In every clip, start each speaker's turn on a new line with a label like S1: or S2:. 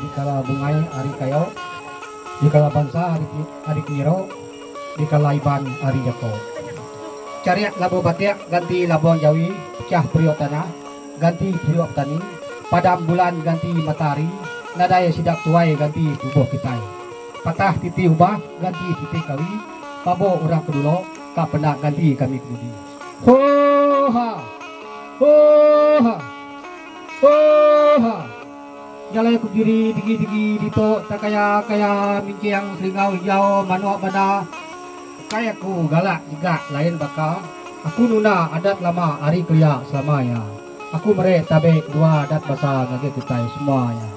S1: Dikala bungai ari kayo. Dikala bansa ari peniro. Dikala iban ari jako. Cariak labuh batik ganti labuh jawi pecah periuk tanah ganti periuk petani padam bulan ganti matahari nadai sidak tuai ganti tubuh kitai patah titi ubah ganti titi kawi pabok urang kedulo ka penda ganti kami kemudi hoo haa hoo haa hoo haa. Jalai aku piri pigi-pigi ditu enta kaya-kaya minjing selingau hijau manuk banda. Ukai aku galak nyegak lain baka, aku nunda adat lama ari kelia selama iya. Aku meri tabi dua adat basa ngagai kitai semua iya.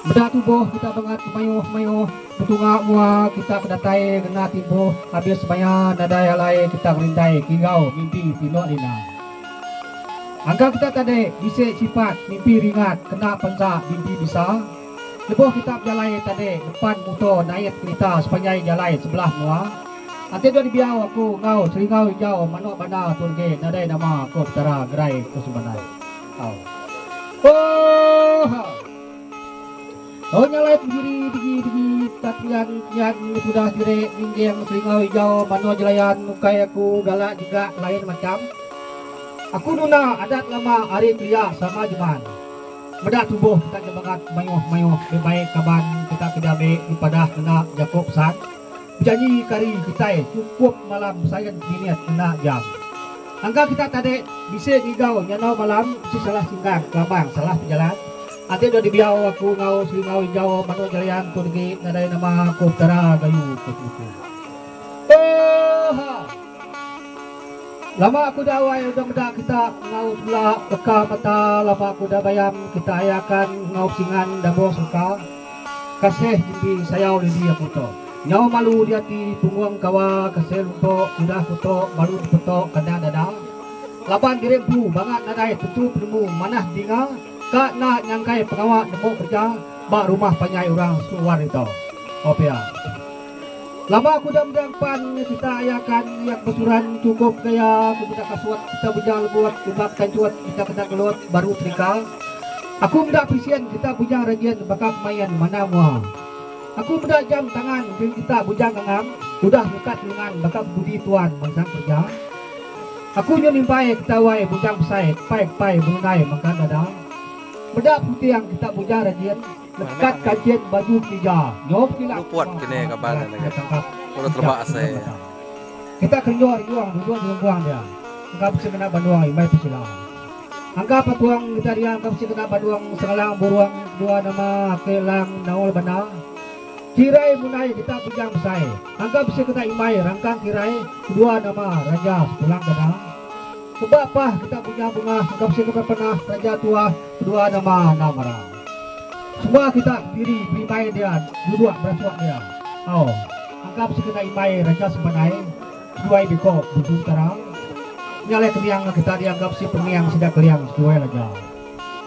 S1: Meda tubuh kita bangat mayuh-mayuh betunga mua kita bedatai ngena timbuh abis maya nadai alai kita ngerindai kigau mimpi pinu Nina. Angka kita tadi bisi sipat mimpi ringat kena penza mimpi besa. Lebuh kita bejalai tadi ngepan muto nait kerita sepanjai jalai sebelah menua. Enti dua dibiau aku enggau seringau ijau manok banda tu enggi nadai nama ko Petara ngerai ko sembanai. Au. Ooh. Tau nyalai pendiri digi digi tak pian kian nya tudah sirik ninjing selingau ijau mano jelayan ukai aku galak jegak lain macham aku duna adat lama ari kelia sama jeman meda tubuh kita ke bangat mayuh mayuh be baik kaban kita ke diambi dipadah ngena jako pesan. Bejanji ke ari kitai chukup malam besain minit enda jam. Angka kita tadi bisi ngigau nyandau malam bisi salah singgang kelabang salah pejalan. Ati dua dibiau aku enggau Selingau Injau Manuk Jarian tu degi nadai nama aku Petara Gayu ke Semuku. Oha! Lama aku da wai udah meda kita enggau semula leka mata lama aku da bayam kita ayakan enggau besingan da bos leka. Kasih titi sayau lili aku to. Nyau malu diati punggung kawa kasih luntok udah kutok balu tepetok kandang dada. Laban diri empu bangat nadai tentu penemu manah dinga ka enda nyangkai pengawa nemu kerja ba rumah panjai orang sku war ito. Opia. Laba aku udah meda empan kita aya kan iak besuran cukup gaya aku meda kasuat kita bujang lebuat ubat kancuat kita kena ngelut baru serika aku meda pisian kita bujang rajin baka kemain mana mua aku meda jam tangan bil kita bujang ngangam udah ngekat lengan baka kebudi tuan mansang kerja aku nyun imbai kita wai bujang besai kepai kepai bengenai mangka dada meda puting kita bujang rajin. Lekat kajit baju tiga. Nyau pekilap. Luput ke ni kaban
S2: nya mega. Lalu
S1: teleba asai
S2: iya.
S1: Kita kenyuh riung duduk di lungkuang dia. Engka bisi kena banung imbai pekilap. Angka patung kita dia engka bisi kena banung sengalang burung kedua nama ake lang naul bana. Kirai munai kita bujang besai. Angka bisi kena imbai rangkang kirai kedua nama raja sepulang gadang. Keba pah kita bujang bungah engka bisi kena penah raja tuah kedua nama anang marang. Suba kita diri berimbai dia duduk berasuak dia. Au, anggap sekeda imbai raja sebanai seduai biko busu utara. Nya alai kemiang enggau kita dia anggap si pengiang sida keliang seduai raja.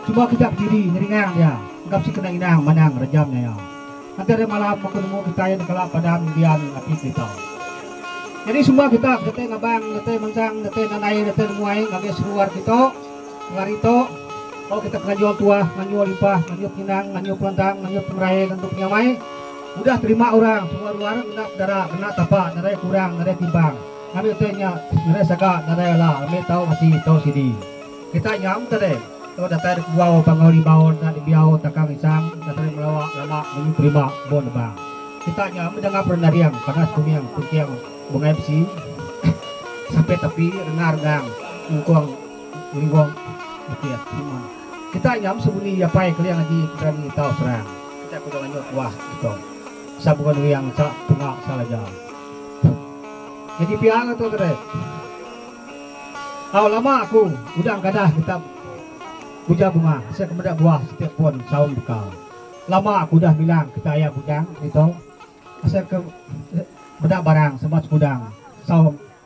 S1: Suba kita bediri ngeringang dia anggap si kena inang manang raja menyaya. Nganti ari malam aku nemu kitai nekala padam dian ati kerita. Nyadi suba kita bedatai ngabang, datai mansang, datai nadai, datai nemuai ngagai seruar kita Engari tu, tau kita penganjur tuah, penganjur limpah, penganjur penyinang, penganjur pelantang, penganjur pengerai ngantu penyamai udah terima orang semua ruar ngena pedara, ngena tapa, nadai kurang, nadai timbang. Ngambi utai nya, nadai saga, nadai ala, ambi tau mati, tau sidi. Kita nya am tadi, tau datai da kebuau, pangau limau, enda nembiau, takang isang, enda tadi melawa, lama, munyi terima, embo nebang. Kita nya am bedangap renaring, panas kuming, penting, bungai besi, sapit api, renga rengang, nyungkung. Unggob beti ati mun. Kita nyam sebuni iya pai keling agi berani tau serang. Kita kuda nganyut wah Ito. Sabun wiang sa tunga sa laja. Nyadi pia ga tu tadi. Au lama aku udah engkadah kita uja bunga asa ke meda buah siti pun saum beka. Lama aku udah bilang kita aya bujang Ito asa ke meda barang sama sekudang saum.